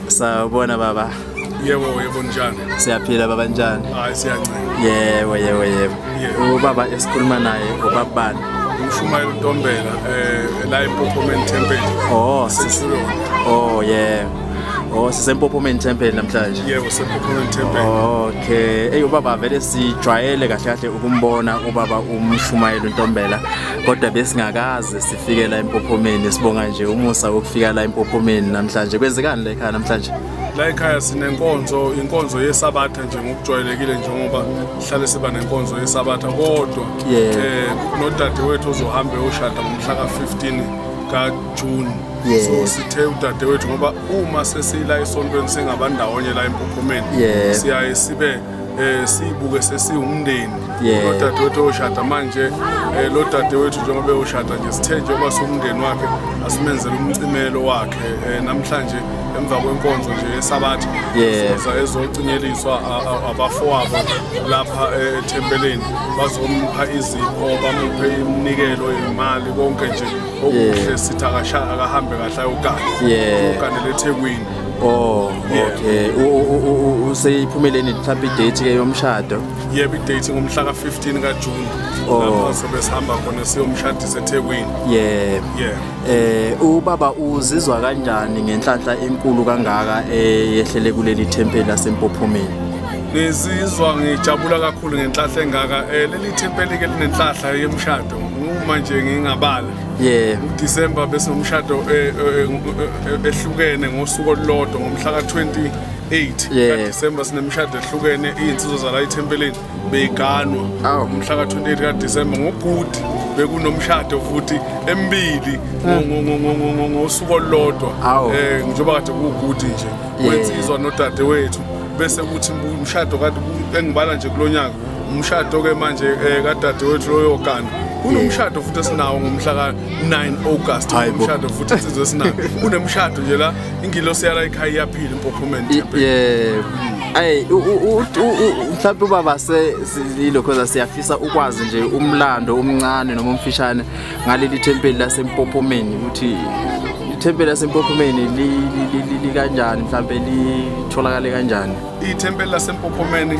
Sawubona baba. Yebo yebo njani? Siyaphila baba njani? Hayi siyancela. Yebo yebo yebo. Ubaba esikhuluma naye ubaba bani? Umshumayeli uNtombela eh la eMpophomeni Temple. Oh, sisilo. Oh yeah. Oh sisempophomeni temple namhlanje. Yebo sempophomeni temple. Okay. Ey ubaba vele sijwayele kahle kahle ukumbona ubaba umshumayeli uNtombela kodwa besingakaze fike la empophomeni sibonga nje umusa wokufika la empophomeni namhlanje kwenzekani la ekhaya namhlanje la ekhaya sinenkonzo inkonzo yesabatha nje ngokujwayelekile njengoba sihlale siba nenkonzo yesabatha kodwa yeah. eh nodadewethu ozohambe oshada ngomhla ka-15 kajuni yeah. so sithe udadewethu ngoba uma sesiyila esontweni singabandawonye la empophomeni yeah. siyaye sibe eh sibuke sesiwumndeni lodadewethu oshada manje eh lo dadewethu njengoba eyoshada nje sithe njengoba siwumndeni wakhe asimenzele umcimelo wakhe eh, namhlanje emva kwenkonzo nje yesabatha siza ezocinyeliswa abafowabo lapha eh, ethempeleni bazompha izipho bamuphe iminikelo imali konke nje okuhle sithi akasha akahambe kahle ayogana uganele ethekwini Oh, okay. Useyiphumeleni mhlawumbe i-date ke yomshado? Yebo i-date ngomhla ka-15 kaJune. Oh. Lapho sobe sihamba khona siyomshadisa eThekwini. Yebo. Yebo. Eh ubaba uzizwa kanjani ngenhlanhla enkulu kangaka eyehlele kuleli thempeli laseMpophomeni? Ngizizwa ngijabula kakhulu ngenhlahla engaka. Eh leli thempeli ke linenhlahla yemshado. Uma nje ngingabala Yeah. December bese umshado eh, eh, eh, ehlukene ngosuku olulodwa ngomhla ka-28 yeah. kadecember sinemishado ehlukene iy'nsizwa zala ethempeleni beyiganwa oh. umhla ka-28 kadecember ngogudi bekunomshado futhi emibili ngosuku olulodwa um njengoba kade kuwugudi nje wensizwa nodade wethu bese kuthi umshado kade engibala nje kulo nyaka umshado-ke manje um eh, kadadewethu loyogana kunomshado futhi esinawo ngomhla ka-9 august umshado futhi insizwe esinayo kunemshado nje la ingilosi yala ikhaya iyaphila impophomeni yebo Ay mhlawumbe ubaba se yilokho siyafisa ukwazi nje umlando omncane noma omfishane ngaleli thempeli lasempophomeni ukuthi ithempeli lasempophomeni likanjani mhlawumbe litholakale kanjani ithempeli lasempophomeni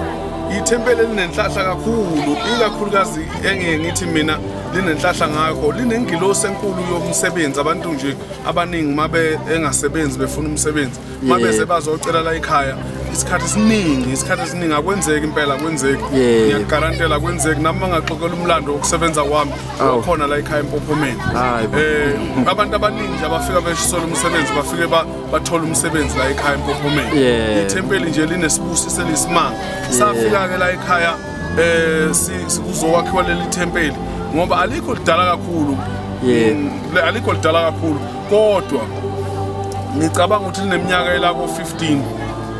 ithempeli elinenhlahla kakhulu ikakhulukazi engeke ngithi mina linenhlahla ngakho linengilosi enkulu yomsebenzi abantu nje abaningi uma engasebenzi befuna umsebenzi uma Yeah. bese bazocela la ekhaya isikhathi esiningi isikhathi esiningi akwenzeki impela akwenzeki Yeah. ngiyakugarantela akwenzeki nami mangaxoxela umlando wokusebenza kwami Awu. wakhona la ekhaya empophomeni Hayi bo. um abantu abaningi nje abafika beshisola umsebenzi bafike ba- bathole umsebenzi la ekhaya empophomeni Yeah. ithempeli nje linesibusiso eliyisimanga safika-ke la ekhaya um sikuzowakhiwa leli thempeli ngoba alikho lidala kakhulu Yeah. Mm, le- alikho lidala kakhulu kodwa ngicabanga ukuthi lineminyaka elako 15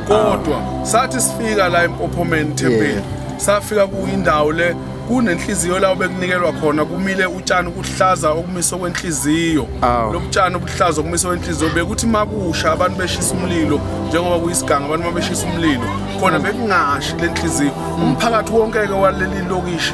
kodwa ah. sathi sifika la empophomeni thempeli safika kuyindawo le kunenhliziyo la obekunikelwa khona kumile utshani ukuhlaza okumiso kwenhliziyo lobutshani obuhlaza okumiso kwenhliziyo bekuthi makusha abantu beshisa umlilo njengoba kuyisiganga abantu mabeshisa umlilo khona bekungashi lenhliziyo umphakathi wonke ke waleli lokishi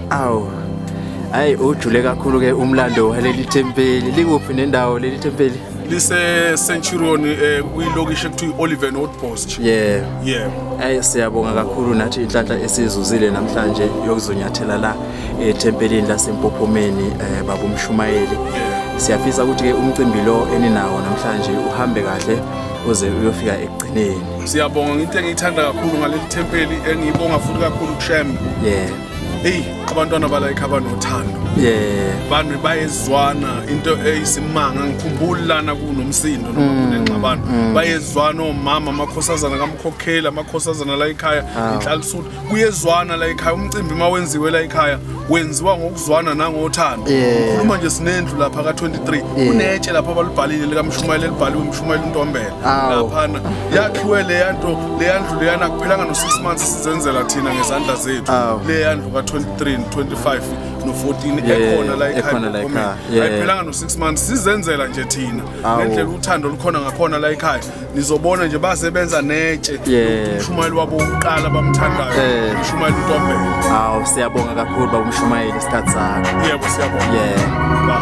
awu hayi ujule kakhulu ke umlando waleli thempeli likuphi nendawo leli thempeli lise-centurion eh, kwilokishi ekuthiwa i-oliver notbost yeah yeah ayi siyabonga kakhulu nathi inhlanhla esizuzile namhlanje yokuzonyathela la ethempelini lasempophomeni um baba umshumayeli siyafisa ukuthi-ke umcimbi lo eninawo namhlanje uhambe kahle uze uyofika ekugcineni siyabonga ngento engiyithanda kakhulu ngaleli thempeli engiyibonga futhi kakhulu kushem yeah eyi abantwana balayikha abanothando yeah bantu bayezwana into eyisimanga ngikhumbula lana kunomsindo noma mm, kunengxabano mm. bayezwana omama amakhosazana kamkhokheli amakhosazana la ekhaya ah. inhlalisuthi kuyezwana la ekhaya umcimbi uma wenziwe la ekhaya wenziwa ngokuzwana nangothando ukhuluma nje sinendlu lapha ka-23 kunetshe lapha abalubhalile likamshumayeli elibhaliwe umshumayeli untombela laphana yakhiwe leya nto leya ndlu leyana kuphelanga no-six months sizenzela thina ngezandla zethu leya ndlu ka-23 25 no-14 ekhona la ekhaya ayiphelanga no-six months sizenzela nje thina ngendlela uthando lukhona ngakhona la ekhaya nizobona nje basebenza netshe umshumayeli wabo wokuqala bamthandayo eh. umshumayeli utombela awu siyabonga kakhulu babumshumayeli isikhathi sakho yebo siyabonga yeah.